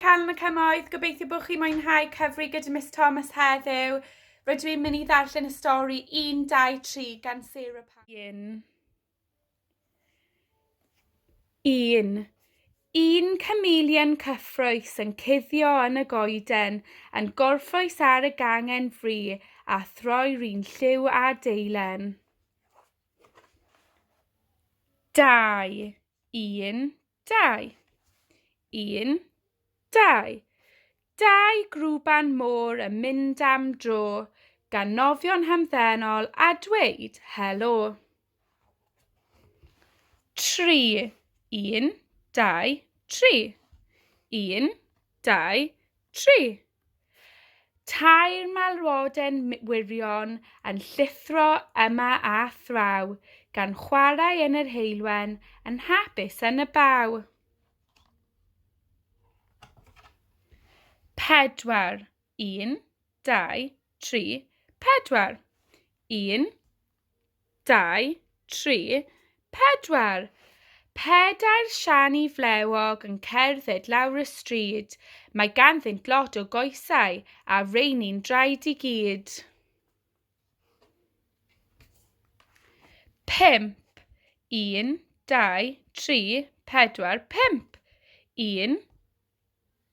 Cân y Cymoedd, gobeithio bod chi'n mwynhau cyfri gyda Miss Thomas heddiw. Rydw i'n mynd i ddarllen y stori 1, 2, 3 gan Sarah Pan. Un. Un chameleon cyffroes yn cuddio yn y goeden, yn gorffwys ar y gangen fri a throi rhin lliw a deilen. Dau. Un. Dau. Un, dau. Dau grwban môr yn mynd am dro gan nofio'n hamddenol a dweud helo. Tri. Un, dau, tri. Un, dau, tri. Tair malwoden wirion yn llithro yma a thraw, gan chwarae yn yr heulwen, yn hapus yn y baw. Pedwar. Un, dau, tri, pedwar. Un, Dau, tri, pedwar! Pedair siani flewog yn cerdded lawr y stryd. Mae ganddynt lot o goesau, a reini'n draed i gyd. Pump, un, dau, tri, pedwar, pump! Un,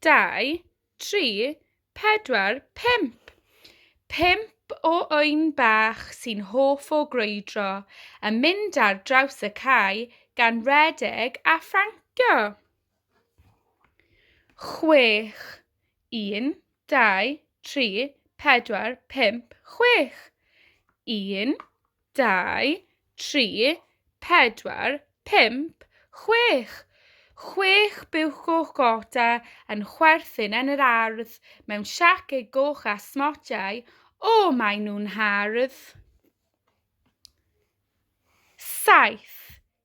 dau, tri, pedwar, pump! Pump o ŵyn bach sy'n hoff o grwydro yn mynd ar draws y cae gan redeg a phrancio. Chwech, un, dau, tri, pedwar, pump, chwech! Un, dau, tri, pedwar, pump, chwech! Chwech buwch goch gota yn chwerthin yn yr ardd mewn siaced goch â smotiau, o, maen nhw'n hardd! Saith,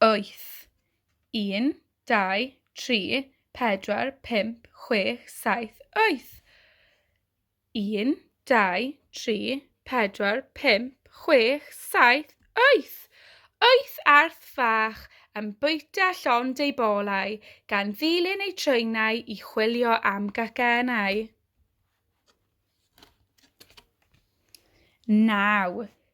wyth, un, dau, tri, pedwar, pump, chwech, saith, wyth, un, dau, tri, pedwar, pump, chwech, saith, wyth, wyth arth fach yn bwyta llond ei bolau, gan ddilyn ei treinau i chwilio am gacennau. Naw,